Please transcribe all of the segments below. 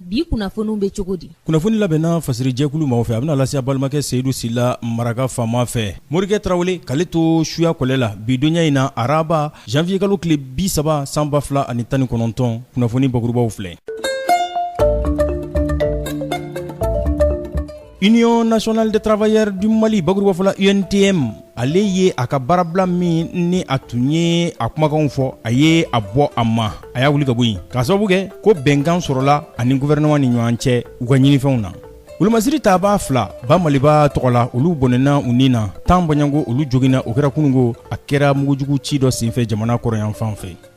bi kunnafoniw bɛ cogo di kunnafoni labɛnna fasirijɛkulu maaw fɛ a bɛna lase a balimakɛ seyidu sila maraka faama fɛ morikɛ tarawele k'ale to suya kɔlɛ la bi donya in na araba janvier kalo tile bi saba san ba fila ani tan ni kɔnɔntɔn kunnafoni bakurubaw filɛ Union nationale des travailleurs du Mali bakurubafɔ la UNTM ale ye a ka baarabila min ni a tun ye a kumakanw fɔ a ye a bɔ a ma a y'a wuli ka bɔ yen k'a sababu kɛ ko bɛnkan sɔrɔla a ni gouvernement ni ɲɔgɔn cɛ u ka ɲinifɛnw na wolomasiri taabaa fila Bamaliba tɔgɔ la olu bɔnɛna u ni na tan bɔɲɔgɔnko olu joginna o kɛra kununko a kɛra mugujugu ci dɔ senfɛ jamana kɔrɔyanfan fɛ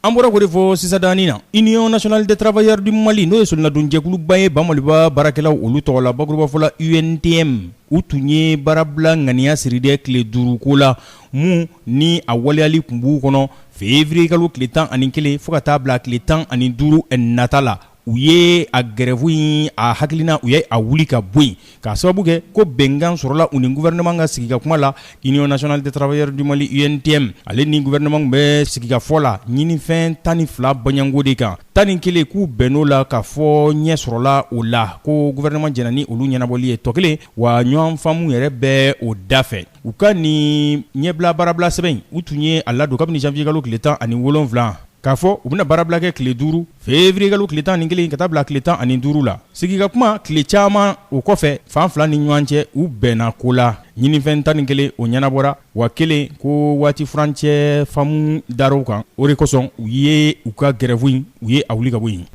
An bɔra k'o de fɔ sisan dani na Union nationale des travailleurs du Mali n'o ye solonadonjɛkuluba ye Bamaliba baarakɛlaw olu tɔgɔ la bakurubafɔ la UNTM u tun ye baarabila ŋaniya siri dɛ tile duuru ko la mun ni a waleyali tun b'u kɔnɔ février kalo tile tan ani kelen fo ka taa bila tile tan ani duuru nata la u ye a gɛrɛfu in a hakilina u ye a wuli ka bɔ yen k'a sababu kɛ ko bɛnkan sɔrɔla u ni gouvernement ka sigi ka kuma la Union nationale des travailleurs du Mali UNTM ale ni gouvernement bɛ sigikafɔ la ɲinifɛn tan ni fila bɔɲɔgɔnko de kan tan ni kelen k'u bɛnn'o la k'a fɔ ɲɛ sɔrɔla o la ko gouvernement jɛnna ni olu ɲɛnabɔli ye tɔ kelen wa ɲɔgɔn faamu yɛrɛ bɛ o da fɛ u ka nin ɲɛbila baarabila sɛbɛn u tun ye a ladon kabini janvier kalo tile tan ani wolonwula k'a fɔ u bɛna baarabila kɛ tile duuru février kalo tile tan ni kelen ka taa bila tile tan ani duuru la sigi ka kuma tile caman o kɔfɛ fan fila ni ɲɔgɔn cɛ u bɛnna ko la ɲinifɛn tan ni kelen o ɲɛnabɔra wa kelen ko waati furancɛ faamu dar'o kan o de kosɔn u ye u ka gɛrɛfu in u ye a wuli ka bɔ yen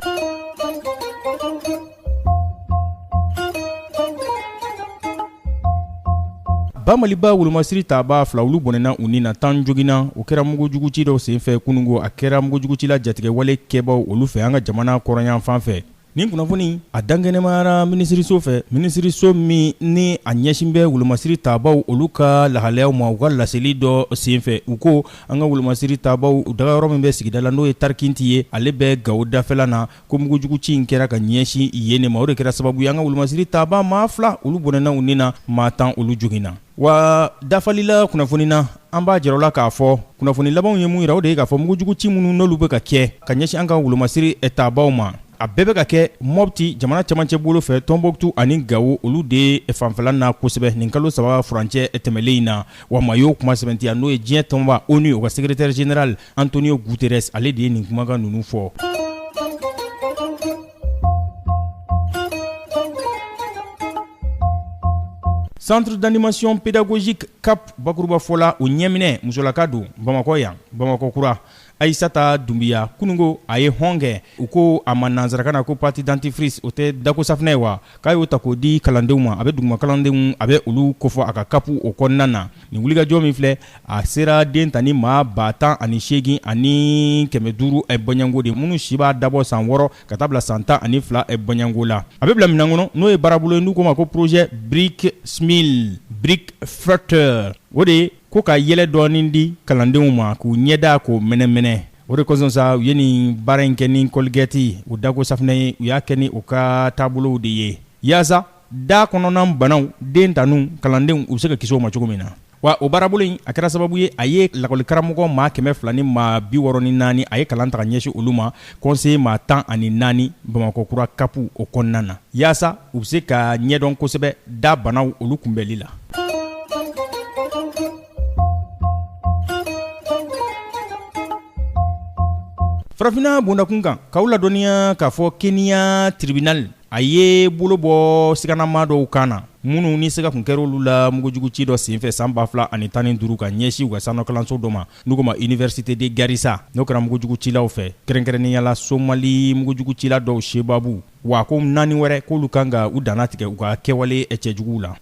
Bamaliba wolomasiri taabaa fila olu bɔnɛna u ni na tan joginna o kɛra mugujugu ci dɔ senfɛ kununko a kɛra mugujugu ci la jatigɛwale kɛbaw olu fɛ an ka jamana kɔrɔyanfan fɛ nin kunnafoni a dankɛnɛmayara minisiriso fɛ minisiriso min ni a ɲɛsin bɛ wolomasiri taabaaw olu ka lahalayaw ma u ka laseli dɔ senfɛ u ko an ka wolomasiri taabaaw dagayɔrɔ min bɛ sigida la n'o ye tarikinti ye ale bɛ gawo dafɛla na ko mugujugu ci in kɛra ka ɲɛsin yen de ma o de kɛra sababu ye an ka wolomasiri taabaa maa fila olu bɔnɛna u ni na maa tan olu joginna wa dafali la kunnafoni na an b'a jɛrɛ la k'a fɔ kunnafoni labanw ye mun yira o de ye k'a fɔ mugujugu ci minnu n'olu bɛ ka kɛ ka ɲɛsin an ka wolomasiri taabaaw ma a bɛɛ bɛ ka kɛ mɔpti jamana cɛmancɛ bolo fɛ tɔnbɔkutu ani gawo olu de fanfɛla na kosɛbɛ nin kalo saba furancɛ tɛmɛlen in na wa maa y'o kuma sɛbɛntiya n'o ye diɲɛ tɔnba onu o ka segeretɛri zenerali Antonio Guterres ale de ye nin kumakan ninnu fɔ. Centre d'animation pédagogique CAP bakuruba fɔ la, o ɲɛminɛ musolaka don Bamakɔ yan, Bamakɔ kura. Ayisata Dunbiya kununko a ye hɔn kɛ. U ko a ma nansarakan na ko pâte dentifrice o tɛ dako safinɛ ye wa? K'a y'o ta k'o di kalandenw ma, a bɛ duguma kalandenw a bɛ olu kofɔ a ka CAP o kɔnɔna na. Nin wulikajɔ min filɛ a sera den tanin maa ba tan ani segin ani kɛmɛ duuru bɔɲɔgɔnko de minnu si b'a dabɔ san wɔɔrɔ ka taa bila san tan ani fila bɔɲɔgɔnko la a bɛ bila min kɔnɔ n'o ye baarabolo ye n'u ko ma ko projet Bright Smile Bright Future o de ye ko ka yɛlɛ dɔɔni di kalandenw ma k'u ɲɛda k'o mɛnɛmɛnɛ o de kosɔn sa u ye nin baara in kɛ ni Colgate u dako safinɛ ye u y'a kɛ ni u ka taabolow de ye yaasa Da kɔnɔna banaw den taninw kalandenw u bɛ se ka kisi o ma cogo min na wa o baarabolo in a kɛra sababu ye a ye lakɔlikaramɔgɔ maa kɛmɛ fila ni maa bi wɔɔrɔ ni naani a ye kalan ta ka ɲɛsin olu ma conseiller maa tan ani naani bamakɔ kura CAP o kɔnɔna na yaasa u bɛ se ka ɲɛdɔn kosɛbɛ da banaw olu kunbɛnli la farafinna bondakun kan k'aw ladɔnniya k'a fɔ Kenya tribunal a ye bolo bɔ siganama dɔw kan na minnu ni siga tun kɛra olu la mugujugu ci dɔ senfɛ san 2000 ani tan ni duuru ka ɲɛsin u ka sanɔkalanso dɔ ma n'u ko ma université de garissa n'o kɛra mugujugu cilaw fɛ kɛrɛnkɛrɛnnenya la somali mugujugu cila dɔw sebabu wa ko naani wɛrɛ k'olu kan ka u danna tigɛ u ka kɛwale cɛjuguw la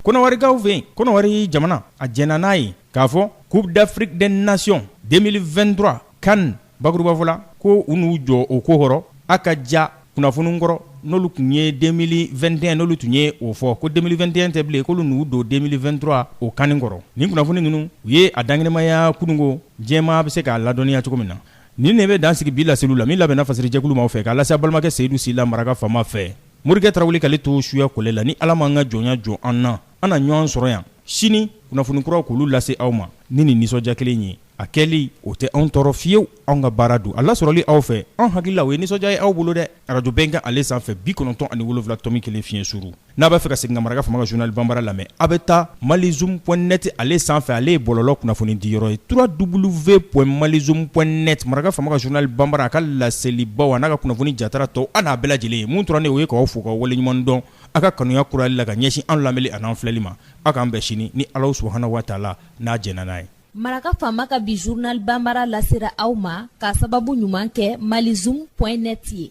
kɔnɔwarikaw fɛ yen kɔnɔwari jamana a jɛnna n'a ye k'a fɔ coupe d'Afrique des nations 2023 CAN bakurubafɔ la ko u n'u jɔ o ko kɔrɔ a ka ja kunnafoni kɔrɔ n'olu tun ye 2021 n'olu tun ye o fɔ ko 2021 tɛ bilen k'olu n'u don 2023 o CAN kɔrɔ nin kunnafoni ninnu u ye a dankɛnɛmaya kununko diɲɛmaa bɛ se k'a ladɔnniya cogo min na nin de bɛ dan sigi bi laseliw la min labɛnna fasirijɛkulu maaw fɛ k'a lase a balimakɛ seyidu sila maraka fama fɛ morikɛ tarawele k'ale to suya kɔlɛ la ni ala m'an ka jɔnya jɔ an na An na ɲɔgɔn sɔrɔ yan sini kunnafoni kuraw k'olu lase aw ma ni nin nisɔndiya kelen ye a kɛli o tɛ anw tɔɔrɔ fiyewu anw ka baara don a lasɔrɔli aw fɛ anw hakili la o ye nisɔndiya ye aw bolo dɛ arajo Bɛnkan ale sanfɛ bi kɔnɔntɔn ani wolonwula tɔmi kelen fiɲɛ suru n'a b'a fɛ ka segin ka maraka fama ka journal banbara lamɛn aw bɛ taa mali zoom point net ale sanfɛ ale ye bɔlɔlɔ kunnafoni di yɔrɔ ye trois double v point mali zoom point net maraka fama ka journal banbara a ka laselibaw n'a ka kunnafoni jatara tɔw an n'a bɛɛ lajɛlen ye mun dɔrɔn nin o ye k'aw fo ka waleɲuman dɔn aw ka kanuya kurali la ka ɲɛsin an lamɛnni an'an filɛli ma aw k'an bɛn sini ni ala subhanahu wa taala n'a jɛnna n'a ye maraka faama ka bi journal bambara lasera aw ma ka sababu ɲuman kɛ mali zoom point net ye